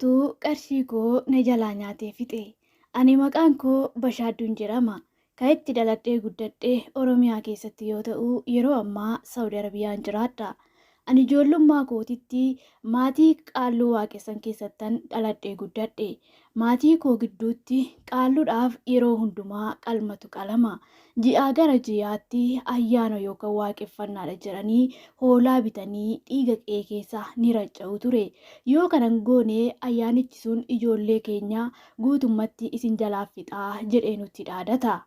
Tuu qarshii koo na jalaa nyaatee fixe. Ani maqaan koo Bashaadduun jedhama. Ka itti dhaladhee guddadhe Oromiyaa keessatti yoo ta'u yeroo ammaa Saudi Arabiyaan jiraadha. Ani ijoollummaa kootitti maatii Qaalluu waaqessan keessattan dhaladhee guddadhe. Maatii koo gidduutti Qaalluudhaaf yeroo hundumaa qalmatu qalama. Ji'aa gara ji'aatti ayyaana yookaan waaqeffannaadha jedhanii hoolaa bitanii dhiiga qe'ee keessa ni racca'u ture. Yoo kana hin goone ayyaanichi sun ijoollee keenya guutummatti isin jalaa fixa jedhee nutti dhaadata.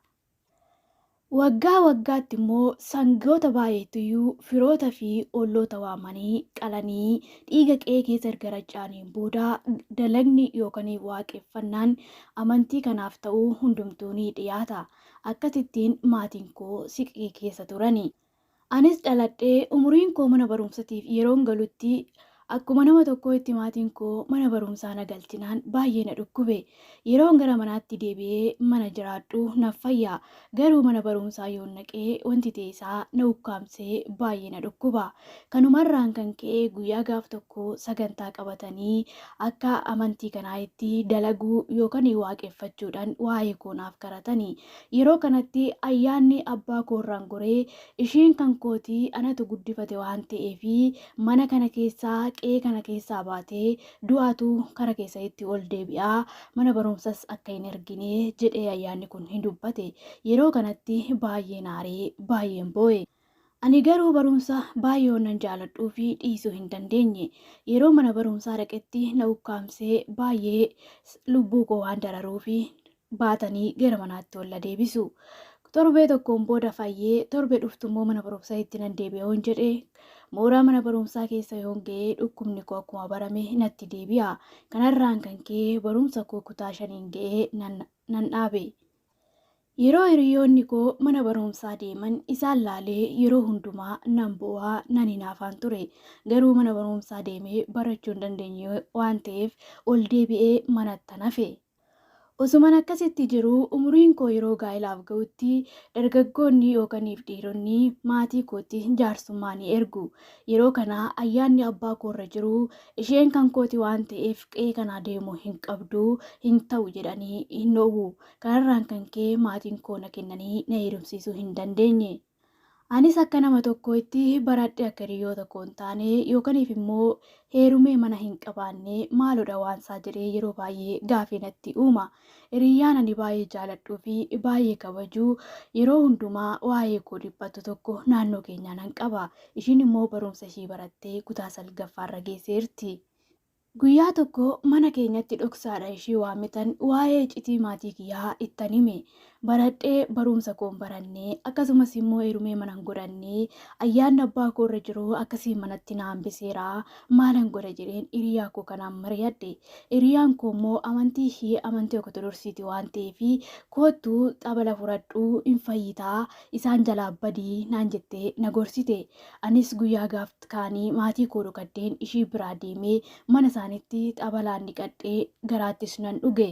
Waggaa waggaatti immoo sangoota baay'eettuyyuu firoota fi olloota waamanii qalanii dhiiga qe'ee keessa erga racca'aniin booda dalagni yookaan waaqeffannaan amantii kanaaf ta'u hundumtuu ni dhiyaata. Akkasittiin maatiin koo siqii keessa turani. Anis dhaladhee umuriin koo mana barumsatiif yeroon galutti akkuma nama tokkoo itti maatiin koo mana barumsaa na galchinaan baay'ee na dhukkube. Yeroon gara manaatti deebi'ee mana jiraadhu naf fayya. Garuu mana barumsaa yoon dhaqee wanti ta'e isaa na ukkaamsee baay'ee na dhukkuba. Kanumarraan kan ka'e guyyaa gaaf tokko sagantaa qabatanii akka amantii kanaa itti dalaguu yookan waaqeffachuudhan waa'ee koo naaf karatani. Yeroo kanatti ayyaanni abbaa koo irraan goree isheen kan kooti anatu guddifate waan ta'eef mana kana keessaa qe'ee kana keessaa baatee du'aatu kara kee sanitti ol deebi'a mana barumsas akka hin ergine jedhee ayyaanni kun hin dubbate. Yeroo kanatti baay'een aaree baay'een boo'e. Ani garuu barumsa baay'ee waanan jaaladhuufi dhiisuu hin dandeenye. Yeroo mana barumsaa dhaqetti na ukkaamsee baay'ee lubbuu koo waan dararuufi baatanii gara manaatti ol na deebisu. Torbee tokkoon booda fayyee torbee dhuftummoo mana barumsaitti nan deebi'a yoon jedhe mooraa mana barumsaa keessa yoon ga'ee dhukkubni koo akkuma barame natti deebi'a. Kanarraan kan ka'e barumsa koo kutaa shaniin ga'ee nan dhaabe. Yeroo hiriyoonni koo mana barumsaa deeman isaan laalee yeroo hundumaa nan boo'a, nan hinaafaan ture. Garuu mana barumsaa deemee barachuu hin dandeenye waan ta'eef ol deebi'ee manattan hafe. Osuman akkasitti jiruu umuriin koo yeroo gaa'elaaf ga'utti dargaggoonni yookaniif dhiironni maatii kootti jaarsummaa ni ergu. Yeroo kana ayyaanni abbaa koo irra jiru isheen kan kooti waan ta'eef qe'ee kanaa deemuu hin qabdu, hin ta'u jedhanii hin dhoowwu. Kanarraan kan ka'e maatiin koo na kennanii na heerumsiisuu hin dandeenye. Anis akka nama tokkootti baradhee akka hiriyoota koo hin taane yookaniif immoo heerumee mana hin qabaanne maaloodha waansaa jedhee yeroo baay'ee gaafii natti uuma. Hiriyyaan ani baay'ee jaaladhuu fi baay'ee kabaju yeroo hundumaa waa'ee koo dhiphattu tokko naannoo keenyaa nan qaba. Ishiin immoo barumsa ishii barattee kutaa salgaffaarra geesseerti. Guyyaa tokko mana keenyatti dhoksaadha ishii waamitan waa'ee icitii maatii kiyyaa ittan hime. Baradhee baruumsa koon barannee akkasumas immoo heerumee manan godhannee ayyaanni abbaa koo irra jiru akkasiin manatti na hambiseera maalan godha jedheen hiriyaa koo kanaan mariyadhe. Hiriyaan koo immoo amantii ishii amantii okotodorsiiti waan ta'eef koottu xabala furadhuu hin fayyitaa isaan jalaa badii naan jettee na gorsite. Anis guyyaa gaaf kaanii maatii koo dhokadheen ishii biraa deemee mana isaanitti xabalaan dhiqadhee garaattis nan dhuge.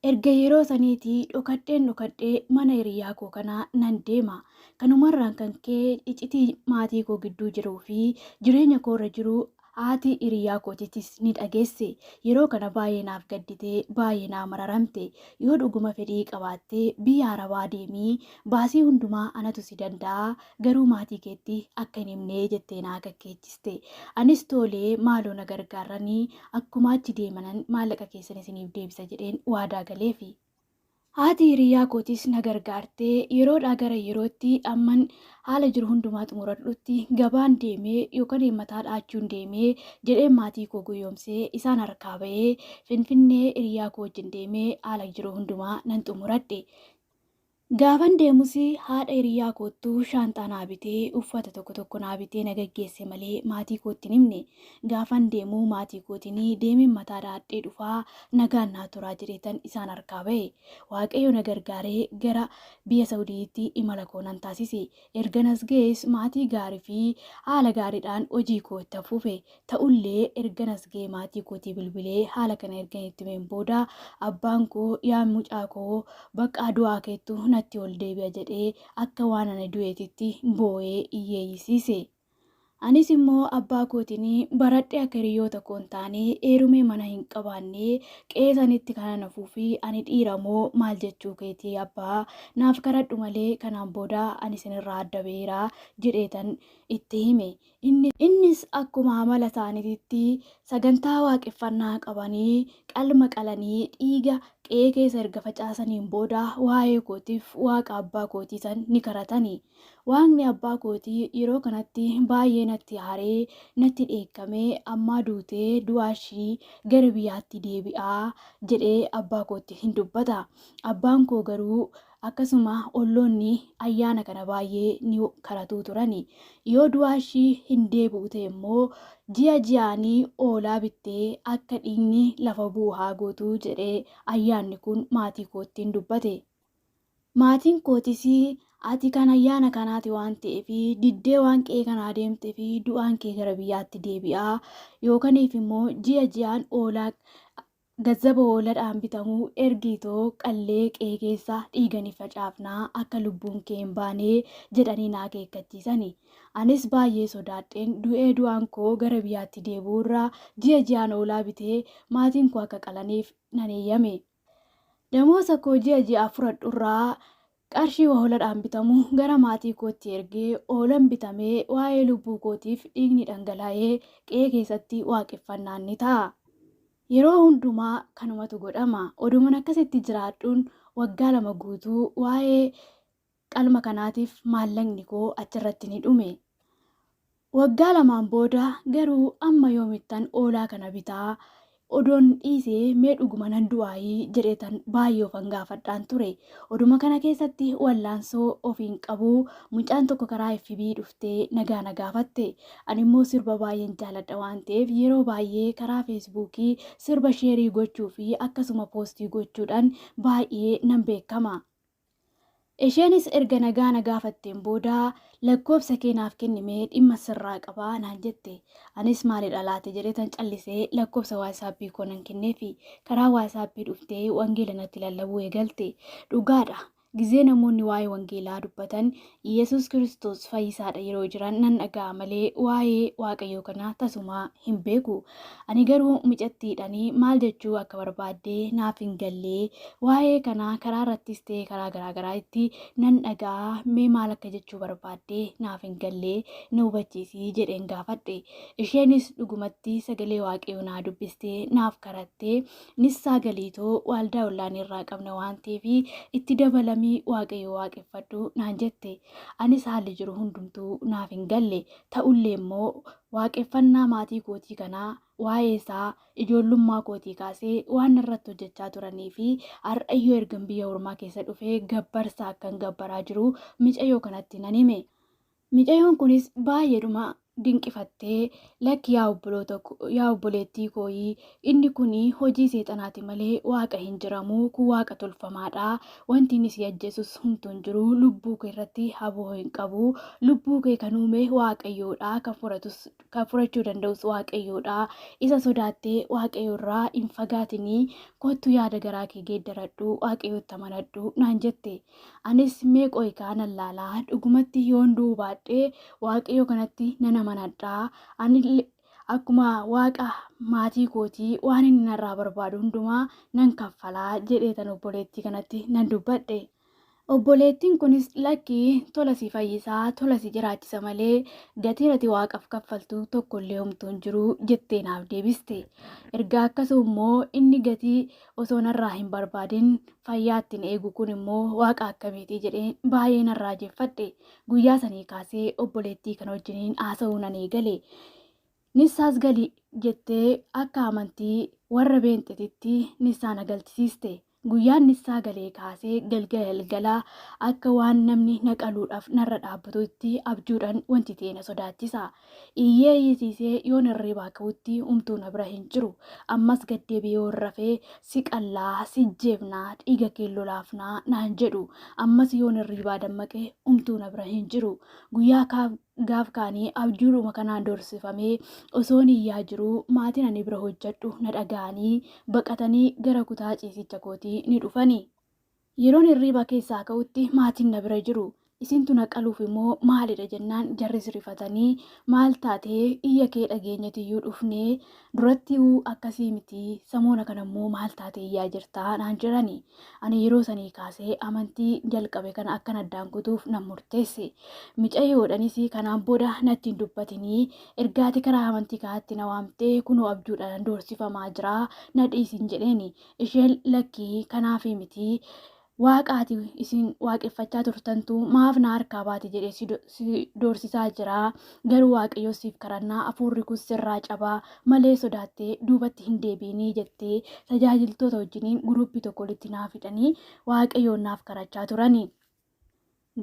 Erga yeroo saniitii dhokadheen dhokadhee mana hiriyyaa koo kanaa nan deema. Kanumarraan kan ka'e icitii maatii koo gidduu jiruu fi jireenya koorra jiru Haati hiriyaa kootitis ni dhageesse. Yeroo kana baay'ee naaf gaddite, baay'ee naa mararamte. Yoo dhuguma fedhii qabaatte biyya Arabaa deemi, baasii hundumaa anatu si danda'a, garuu maatii keetti akka hin himne jettee na akakkeechiste. Anis tole maaloo na gargaarrani akkuma achi deemanan maallaqa keessan isiniif deebisa jedheen waadaa galeefi. Haati hiriyyaa kootiis na gargaarte. Yeroodhaa gara yerootti amman haala jiru hundumaa xumuradhutti gabaan deemee yookan mataa dha'achuun deemee jedheen maatii koo goyoomsee isaan harkaa ba'ee Finfinnee hiriyyaa koo wajjin deemee haala jiru hundumaa nan xumuradhe. Gaafan deemus haadha hiriyyaa koottu shaanxaa naa bitee, uffata tokko tokko naa bitee na gaggeesse malee maatii kootti hin himne. Gaafan deemu maatii kootiin deemeen mataa dhahadhee dhufaa nagaan naa turaa jedheetan isaan harkaa bahe. Waaqayyo na gargaaree gara biyya Sa'udiitti imala koo nan taasise. Ergan as ga'ees maatii gaarii fi haala gaariidhaan hojii koo ittan fufe. Ta'ullee ergan as ga'ee maatii kootii bilbilee haala kana ergan itti himeen booda abbaan koo yaa mucaa koo baqqaa du'aa keettu natti ol deebi'a jedhee akka waan ani du'eetitti boo'ee iyyeeyyisiise. Anis immoo abbaa kootiin baradhee akka hiriyoota koo hin taane, heerumee mana hin qabaanne, qe'ee sanitti kanan hafuufi ani dhiira moo maal jechuu keeti abbaa? Naaf kadhadhu malee kanaan booda ani isinirraa adda baheera jedheetan itti hime. Innis akkuma amala isaaniititti sagantaa waaqeffannaa qabanii qalma qalanii dhiiga qe'ee keessa erga facaasaniin booda waa'ee kootiif waaqa abbaa kootii san ni kadhatanii. Waaqni abbaa kootii yeroo kanatti baay'ee natti aaree natti dheekkamee ammaa duutee du'aa ishii gara biyyaatti deebi'aa jedhee abbaa kootti hin dubbata. Abbaan koo garuu akkasuma olloonni ayyaana kana baay'ee ni karatuu turani. Yoo du'aa ishii hin deebi'u ta'e immoo ji'a ji'aanii oolaa bittee akka dhiigni lafa bu'u haa gootu jedhee ayyaanni kun maatii koottiin dubbate. Maatiin kootis ati kan ayyaana kanaati waan ta'eef diddee waan qe'ee kanaa deemteef du'aan kee gara biyyaatti deebi'a yookaniif immoo ji'a ji'aan oolaa gazzaba hooladhaan bitamu ergiitoo qallee qe'ee keessa dhiiganii facaafnaa akka lubbuun kee hin baane jedhanii na akeekkachiisani. Anis baay'ee sodaadheen du'ee du'aan koo gara biyyaatti deebi'uurra ji'a ji'aan oolaa bitee maatiin koo akka qalaniif nan eeyyame. Damoosa koo ji'a ji'aaf fudhadhurraa qarshii waholadhaan bitamu gara maatii kootti ergee oolan bitamee waa'ee lubbuu kootiif dhiigni dhangala'ee qe'ee keessatti waaqeffannaan ni ta'a. Yeroo hundumaa kanumatu godhama. Oduman akkasitti jiraadhuun waggaa lama guutuu waa'ee Qalma kanaatiif maallaqni koo achirratti ni dhume. Waggaa lamaan booda garuu amma yoomittan oolaa kana bitaa? Odoon dhiise mee dhuguma nan du'aayii? jedheetan baay'ee ofan gaafadhaan ture. Oduma kana keessatti wallaansoo ofiin qabu mucaan tokko karaa FB dhuftee nagaa na gaafatte. Animmoo sirba baay'een jaaladha waan ta'eef yeroo baay'ee karaa feesbuukii sirba sheerii gochuu fi akkasuma poostii gochuudhaan baay'ee nan beekama. Isheenis erga nagaa na gaafatteen booda lakkoofsa kee naaf kenni mee dhimma sirraa qaba naan jette. Anis maalidha laata jedheetan callisee lakkoofsa waasaappii koo nan kenneefi. Karaa waasaappii dhuftee wangeela natti lallabuu eegalte. Dhugaadha gizee namoonni waa'ee wangeelaa dubbatan Yesuus Kiristoos fayyisaadha yeroo jiran nan dhaga'a malee waa'ee Waaqayyoo kana tasumaa hin beeku. Ani garuu mucattiidhaan maal jechuu akka barbaadde naaf hin galle. Waa'ee kana karaa irrattis ta'e karaa garaagaraa itti nan dhaga'a mee maal akka jechuu barbaadde naaf hin galle na hubachiisi jedheen gaafadhe. Isheenis dhugumatti sagalee Waaqayyoo naa dubbiste naaf karatte nissaa galiitoo waaldaa ollaan irraa qabna waan ta'eef itti dabalamii waaqayyo waaqeffadhu naan jette anis haalli jiru hundumtuu naaf hin galle ta'ullee immoo waaqeffannaa maatii kootii kanaa waa'ee isaa ijoollummaa kootii kaasee waan irratti hojjechaa turanii fi har'ayyoo ergan biyya ormaa keessa dhufee gabbarsa akkan gabbaraa jiru micayyoo kanatti nan hime. Micayoon kunis baay'eedhuma dinqifattee lakki yaa obboloota yaa obboleettii kooyii inni kuni hojii seexanaati malee waaqa hin jiramu kun waaqa tolfamaadha wanti inni si ajjeesus humtuu hin jiru lubbuu kee irratti haboo hin qabu lubbuu kee kan uume waaqayyoodha kan furatus kan furachuu danda'us waaqayyoodha isa sodaattee waaqayyo irraa hin fagaatinii kottu yaada garaa kee geeddaradhu waaqayyootti amanadhu naan jette Anis mee qoy kaa nan laala dhugumatti yoon du'uu baadhee waaqayyo kanatti nan amanadha anille akkuma waaqa maatii kootii waan inni narraa barbaadu hundumaa nan kaffalaa jedheetan obboleettii kanatti nan dubbadhe. Obboleettiin kunis lakki tola si fayyisaa tola si jiraachisa malee gatiin ati waaqaf kaffaltu tokkollee homtuu hin jiru jettee naaf deebiste. Erga akkasuu immoo inni gatii Osoo narraa hin barbaadin fayyaa ittiin eegu kun immoo waaqa akkamiitii jedheen baay'ee nan raajeffadhe. Guyyaa sanii kaasee obboleettii kana wajjiniin haasa'uu nan eegale. Nissaas gali jettee akka amantii warra beenxetitti nissaa na galchisiiste. Guyyaan nissaa galee kaasee galgala galgala akka waan namni na qaluudhaaf narra dhaabbatutti abjuudhaan wanti ta'e na sodaachisa. Iyyee iyyisiisee yoon hirriibaa ka'utti umtuu na bira hin jiru. Ammas gad deebi'ee yoon rafee si qallaa, si jeefna, dhiiga keen lolaafna naan jedhu. Ammas yoon hirriibaa dammaqe umtuu na bira hin jiru. Guyyaa kaaf gaaf kaanii abjuudhuma kanaan doorsifamee osoon iyyaa jiruu maatiin ani bira hojjedhu na dhaga'anii baqatanii gara kutaa ciisicha kootii ni dhufani. Yeroon hirriiba keessaa ka'utti maatiin na bira jiru. Isintu na qaluufi moo maalidha jennaan jarris rifatanii maal taate iyya kee dhageenyetiyyuu dhufnee durattiyuu akkasii miti samoona kanammoo maal taate iyyaa jirta naan jedhani. Ani yeroo sanii kaasee amantii jalqabe kana akkan addaan kutuuf nan murteesse. Micayoodhanis kanaan booda natti hin dubbatinii erga ati karaa amantii kanaatti na waamtee kunoo abjuudhaan doorsifamaa jiraa na dhiisin jedheeni. Isheen lakkii kanaafi miti waaqaati isin waaqeffachaa turtantu maaf na harkaa baate jedhee si do- si doorsisaa jira garuu waaqayyoo siif kadhannaa hafuurri kun sirraa cabaa malee sodaattee duubatti hin deebiinii jettee tajaajiltoota wajjiniin guruuppii tokko walitti naaf hidhanii waaqayyoon naaf kadhachaa turani.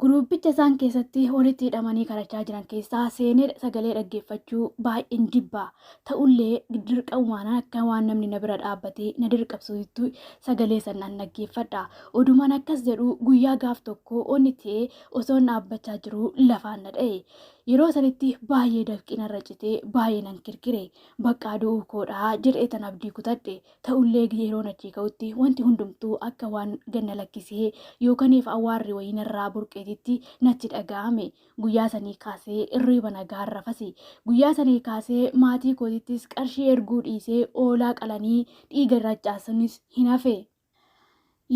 Guruuppicha isaan keessatti walitti hidhamanii kadhachaa jiran keessaa seenee sagalee dhaggeeffachuu baay'een jibba. Ta'ullee dirqamumaan akka waan namni na bira dhaabbatee na dirqabsuutti sagalee san nan dhaggeeffadha. Odumaan akkas jedhu guyyaa gaaf tokko onni ta'ee osoon dhaabbachaa jiruu lafaan na dha'e. Yeroo sanitti baay'ee dafqi narra citee baay'ee nan kirkire. Baqqaa du'uu koodhaa jedhee tan abdii kutadhe. Ta'ullee gizee yeroon achii ka'utti wanti hundumtuu akka waan ganna lakkisee yookaniif awwaarri wayii narraa burqeetitti natti dhaga'ame. Guyyaa sanii kaasee irriiba nagaan rafasi. Guyyaa sanii kaasee maatii kootittis qarshii erguu dhiisee oolaa qalanii dhiiga irra accaasuunis hin hafe.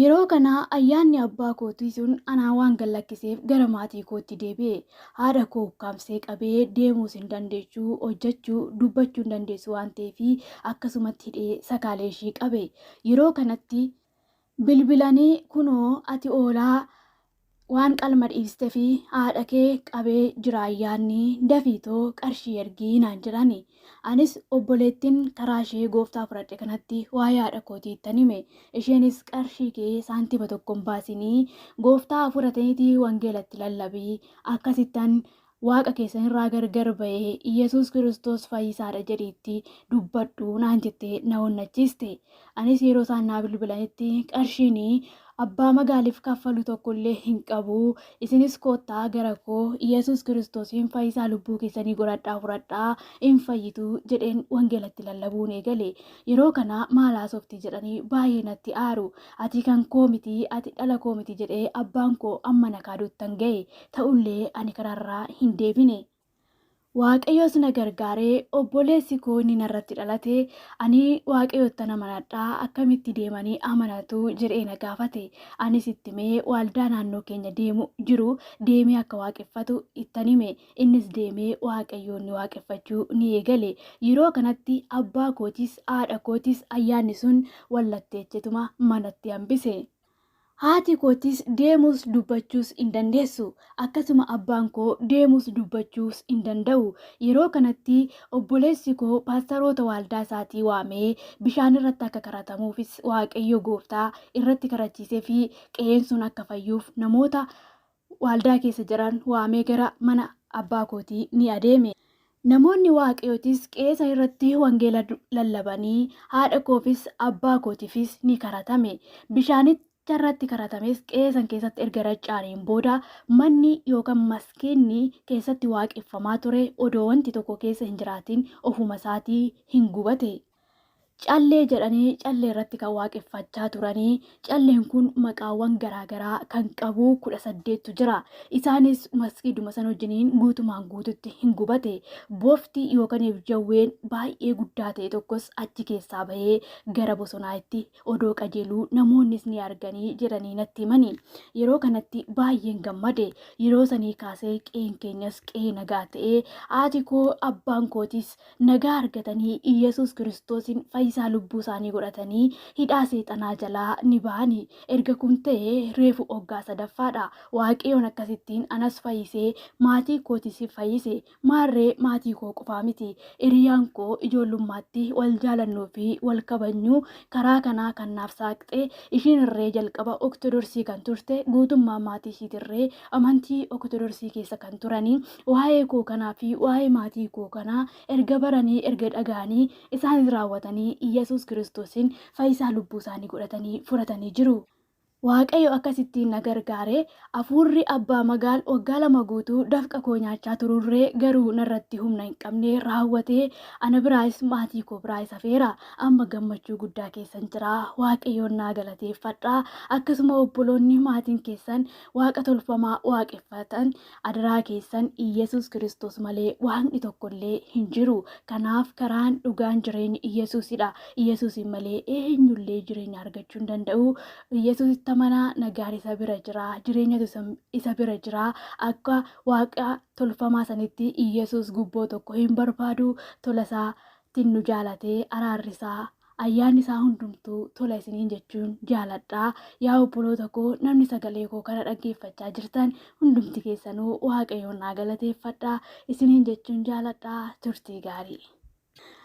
Yeroo kana ayyaanni abbaa kootii sun anaa waan gad lakkiseef gara maatii kootti deebi'e. Haadha koo ukkaamsee qabee deemuus hin dandeessu, hojjechuu, dubbachuu hin dandeessu waan ta'eef akkasumatti hidhee sakaalee ishii qabe. Yeroo kanatti bilbilanii kunoo ati hoolaa waan qalma dhiistefi haadha kee qabee jiraa yaadni dafii too qarshii ergii naan jedhani anis obboleettin karaa ishee gooftaa fudhadhe kanatti waa'ee haadha kootii ittan hime isheenis qarshii kee saantima tokko hin baasinii gooftaa fudhatenitii wangeela itti lallabii akkasittan Waaqa keessan irraa gargar ba'e, Yesuus Kiristoos fayyisaa dha jedhii itti dubbadhu naan jettee na onnachiiste. Anis yeroo isaan naa bilbilanitti qarshiin abbaa magaaliif kaffalu tokko illee hin qabu, isinis koottaa gara koo, Yesuus Kiristoosiin fayyisaa lubbuu keessanii godhadhaa fudhadhaa, in fayyitu jedheen wangeela itti lallabuun eegale. Yeroo kana maal haasofti jedhanii baay'ee natti aaru. Ati kan koo miti, ati dhala koo miti jedhee abbaan koo amma na kaaduttan ga'e. ta'ullee ani karaarraa hin deebine. Waaqayyos na gargaaree obboleessi koo inni narratti dhalate ani waaqayyoottan amanadha akkamitti deemanii amanatu jedhee na gaafate anis itti himee waaldaa naannoo keenya deemu jiru deemee akka waaqeffatu ittan hime innis deemee waaqayyoon ni waaqeffachuu ni eegale yeroo kanatti abbaa kootis haadha kootis ayyaanni sun wallatteechetuma manatti hambise. Haati kootis deemuus dubbachuus hin dandeessu. Akkasuma abbaan koo deemuus dubbachuus hin danda'u. Yeroo kanatti obboleessi koo paastaroota waaldaa isaatii waamee bishaan irratti akka kadhatamuufis Waaqayyo gooftaa irratti kadhachiisee fi qe'een sun akka fayyuuf namoota waaldaa keessa jiran waamee gara mana abbaa kootii ni adeeme. Namoonni Waaqayyootis qe'ee san irratti wangeela lallabanii haadha koofis abbaa kootiifis ni karatame. Bishaanicha irratti karatames qe'ee san keessatti erga raca'aniin booda manni yookaan maskiinni keessatti waaqeffamaa ture odoo wanti tokko keessa hin jiraatin ofuma isaatii hin gubate. Callee jedhanii callee irratti kan waaqeffachaa turanii calleen kun maqaawwan garaagaraa kan qabu kudha saddeettu jira. Isaanis maskiiduma san wajjiniin guutumaan guututti hin gubate. Bofti yookaan jawween baay'ee guddaa ta'e tokkos achi keessaa bahee gara bosonaa itti odoo qajeeluu namoonnis ni arganii jedhanii natti himani. Yeroo kanatti baay'een gammade. Yeroo sanii kaasee qeen keenyas qee nagaa ta'ee haati koo abbaan kootis nagaa argatanii Iyyasuus Kiristoosiin fayyisaa lubbuu isaanii godhatanii hidhaa seexanaa jalaa ni ba'ani. Erga kun ta'e reefu oggaa sadaffaadha. Waaqayyoon akkasittiin anas fayyisee maatii kootis fayyise. Maarree maatii koo qofaa miti. Hiriyaan koo ijoollummaatti wal jaalannuu fi wal kabajnu karaa kanaa kan naaf saaqxe ishiin irree jalqaba Oktodorsii kan turte guutummaa maatii ishiitirree amantii Oktodorsii keessa kan turani Waa'ee koo kanaa fi waa'ee maatii koo kanaa erga baranii, erga dhaga'anii, isaanis raawwatanii Iyyasuus Kiristoosin fayyisaa lubbuu isaanii godhatanii fudhatanii jiru. Waaqayyo akkasittiin na gargaare. Hafuurri Abbaa Magaal waggaa lama guutuu dafqa koo nyaachaa tururree garuu narratti humna hin qabne raawwatee ana biraayis maatii koo biraayis hafeera. Amma gammachuu guddaa keessan jira. Waaqayyoon naa galateeffadha. Akkasuma obboloonni maatiin keessan waaqa tolfamaa waaqeffatan Adaraa keessan Iyyasuus Kiristoos malee waaqni tokko illee hin jiru. Kanaaf karaan dhugaan jireenyi Iyyasuusidha. Iyyasuusiin malee eenyu illee jireenya argachuu hin danda'u. Iyyasuusitti amanaa nagaan isa bira jira. Jireenyatu isa- isa bira jira. Akka waaqa tolfamaa sanitti Iyyasuus gubboo tokko hin barbaadu. Tola isaatiin nu jaalatee araarri isaa Ayyaanni isaa hundumtuu tola isiniin jechuun jaaladha. Yaa obboloota koo namni sagalee koo kana dhaggeeffachaa jirtan hundumti keessanuu Waaqayyoon naa galateeffadha isiniin jechuun jaaladha turtii gaarii.